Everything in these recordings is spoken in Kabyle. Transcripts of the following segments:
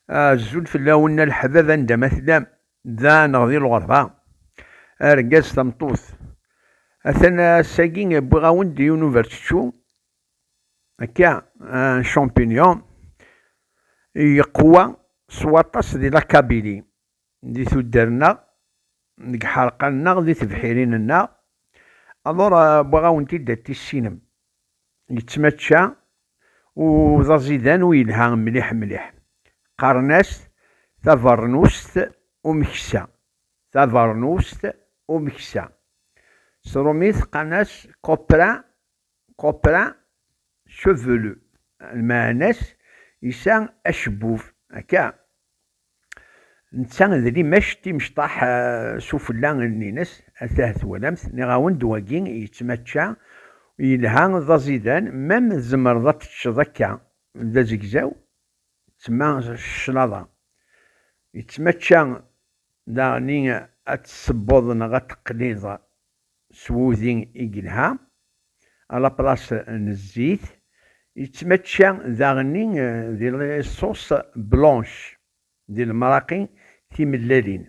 Azul fell-awen a leḥbab anda ma tellam, da neɣ di lɣerba, argaz tameṭṭut. Atan ass-agi wwiɣ-awen-d yiwen n uberčečču, akka, un champignon, yeqwa s waṭas di la Kabylie. di tuddar-nneɣ, deg iḥerqan-nneɣ, di tebḥirin-nneɣ, alors wwiɣ-awen-t-id ad t-tissinem. Yettmačča u d aẓidan u yelha mliḥ mliḥ. Qqaren-as-t tabeṛnust umeksa, tabeṛnust umeksa. S rumi teqqan-as copra Copra, chevelu, lmeɛna-s yesɛa acebbub, akka? Netta d limac timecṭaḥ sufella nni-nes, atah twalamt, niɣ-awen-d wagi yettmačča, yelha, d aẓidan, mem tzemreḍ ad teččeḍ akka d azegzaw, tma cclaḍa. Yettmačča daɣen i ad tessewweḍ neɣ ad teqliḍ s wudi i yelha, à la place n zzit, yettmačča daɣenni di la sauce blanche, di lemraqi timellalin.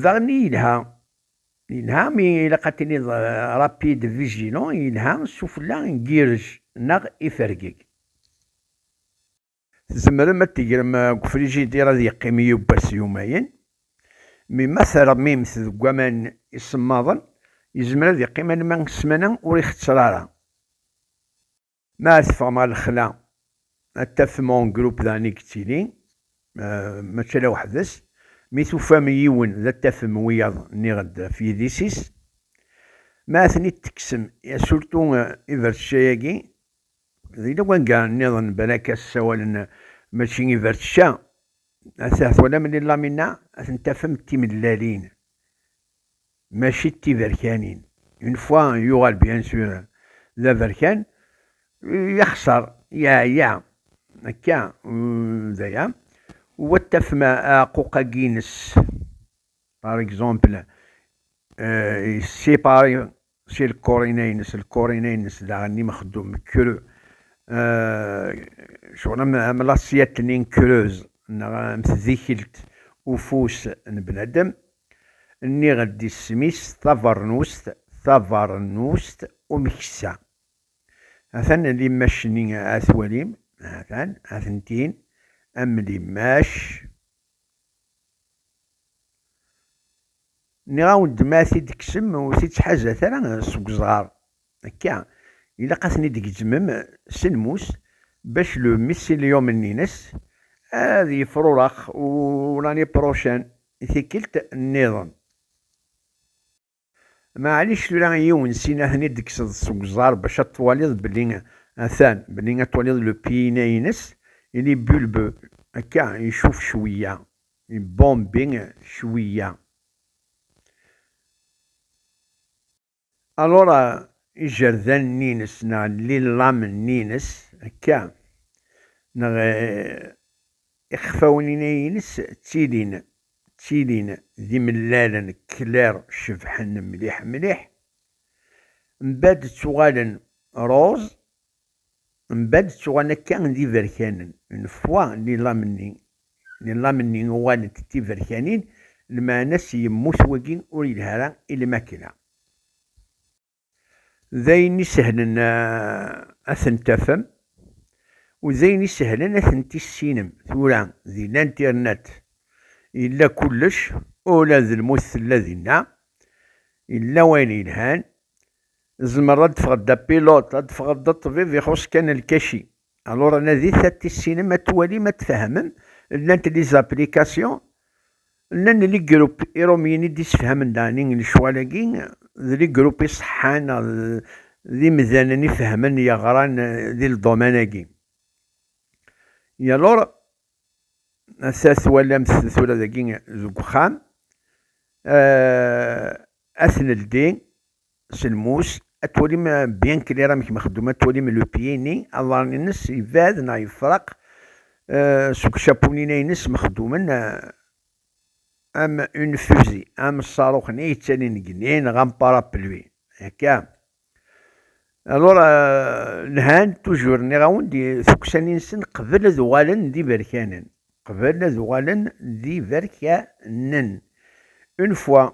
Daɣenni yelha, yelha mi ilaq ad tiniḍ rapide, vigilant, yelha sufella n yirrej neɣ ifergeg. Tzemrem ad t-tegrem deg ufrijidir ad yeqqim yiwwas yumayen, mi ma termim-t deg waman isemmaḍen yezmer ad yeqqim alamma ssmana ur ixetter ara. Ma ara teffɣem ɣer lexla ad tafem en groupe daɣen i yettili, mačči ala weḥd-s, mi tufam yiwen ad tafem wiyaḍ nniɣ-d ɣef yidis-is. Ma ad ten-id-tekksem, surtout ibertecca-yagi, Di lewanga nniḍen balak-a ssawalen mačči i bertca, ahat twalam lilamin-a ad ten-tafem d timellalin mačči d tiberkanin, une fois yuɣal bien sûr d aberkan yexṣer yeɛya akka d aya, u ad tafem aɛquq-agi-ines par exemple séparé Si lkurina-ines, lkurina-ines daɣen n imexdum kru, cɣel am, am lasiyat-nni n kruz, neɣ am tdikelt ufus n bnadem, nniɣ-d isem-is, tabeṛnust, tabeṛnust umeksa. Atan limmac-nni a twalim, atan, atentin, am limmac. Nniɣ-awen-d ma ad t-id-tekksem ur t-id-ttḥazat ara seg uzɣar. Akka, ilaq ad ten-id-tgezmem s lmus bac le mycelium-nni-ines ad yefrurex u l'année prochaine, tikkelt-nniḍen. Maɛlic tura yiwen sin a ten-id tekkseḍ seg uẓar bac ad twaliḍ belli atan, belli ad twaliḍ le piina ines, il est bulbe, akka, icuf cwiya, il bombe cwiya. Alors ijerdanen ines neɣ lillam ines, akka, neɣ Ixfawen inay-ines ttilin ttilin d imellalen clair cebḥen mliḥ mliḥ mbad ttuɣalen rose mbad ttuɣalen akka d iberkanen n fwa lilam-nni lilam-nni uɣalent d tiberkanin lmeɛna s yemmut wagi ur yelha ara i lmakla. d ayen isehlen ad ten-tafem u d ayen isehlen ad ten-tissinem. Tura di l'internet yella kullec, ula d lmut tella dinna, yella wayen yelhan, tzemreḍ ad teffɣeḍ d apilote, ad teffɣeḍ d ṭṭbib, ixuṣ kan lkaci. Alors anadit ad tissinem, ad twalim, ad tfehmem. Llant les applications, llan les groupes irumyen i d-isefhamen dani lecwal-agi, d les groupes iṣeḥḥan neɣ d imdanen ifehmen yeɣran di ldoman-agi. Et alors, assa twalamt tura dagi deg uxxam, ad t-neldi, s lmus, ad twalim bien clair amek mexdum, ad twalim le pied-nni, aḍar-nnes yebɛed neɣ yefreq seg ucapunina-nnes mexdumen am une fusée, am ṣṣaruq-nni yettalin deg igenni neɣ am parapluie. Akka. Alors, lhan, toujours, nniɣ-awen-d, tukksanin-nsen qbel ad uɣalen d iberkanen. Qbel ad uɣalen d iberkanen. Une fois,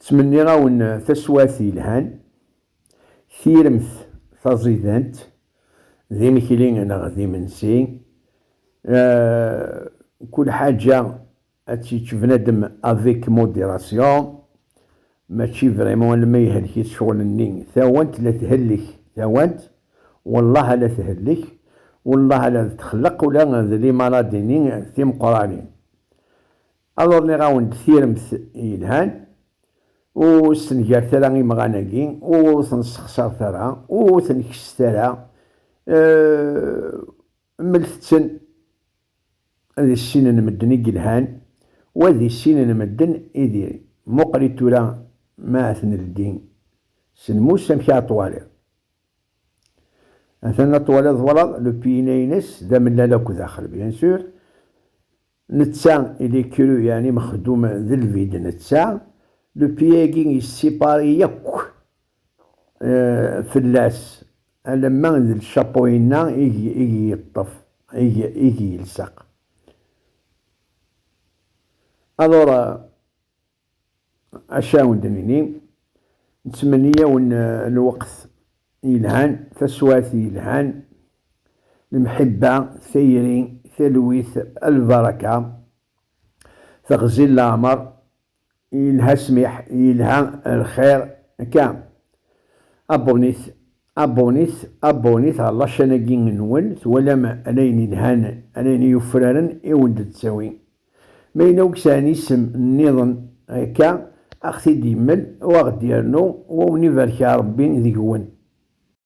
Ttmenniɣ-awen taswiɛt yelhan, tiremt taẓidant, d imekli neɣ d imensi, kul ḥaǧa ad tt-yečč bnadem avec modération, mačči vraiment alma ihelk-it ccɣel-nni, tawant la thellek, tawant, wellah ala thellek, wellah ala d txelleq ula d limaladini timeqqranin. Aluṛ nniɣ awen-d tiremt yelhan, ur stengaret ara imɣan agi, ur ten ssexsaṛet ara, ur ten kesset ara, mmlet-ten di sin n medden i yelhan, wa di sin n medden i diri. Muqel-it tura ma ad t-neldi s lmus amek ara t-twaliḍ. Atan ad t-twaliḍ twalaḍ le piyina-ines d amellal akk daxel bien sûr. Netta, il est cru, yeɛni mexdum d lbid, netta, le pied-agi yessipari yakk fell-as, alamma d lcapo-inna i g-yeṭṭef, i g-yelseq. Alors, Acu awen d-nini, nettmenni-awen lweqt yelhan, taswiɛt yelhan, lemḥibba, tayri, talwit, lbaraka, teɣzi n leɛmer, yelha ssmiḥ, yelha lxir, akka. Abonnit, abonnit, abonnit ɣer laččan-agi-nwen, twalam ayen yelhan, ayen yufraren i wen-d-tettawi. Ma yella ur yesɛin isem nniḍen akka, a ɣ-t-id-yemmel u a ɣ-d-yernu, u a wen-ibarek Rebbi deg-wen.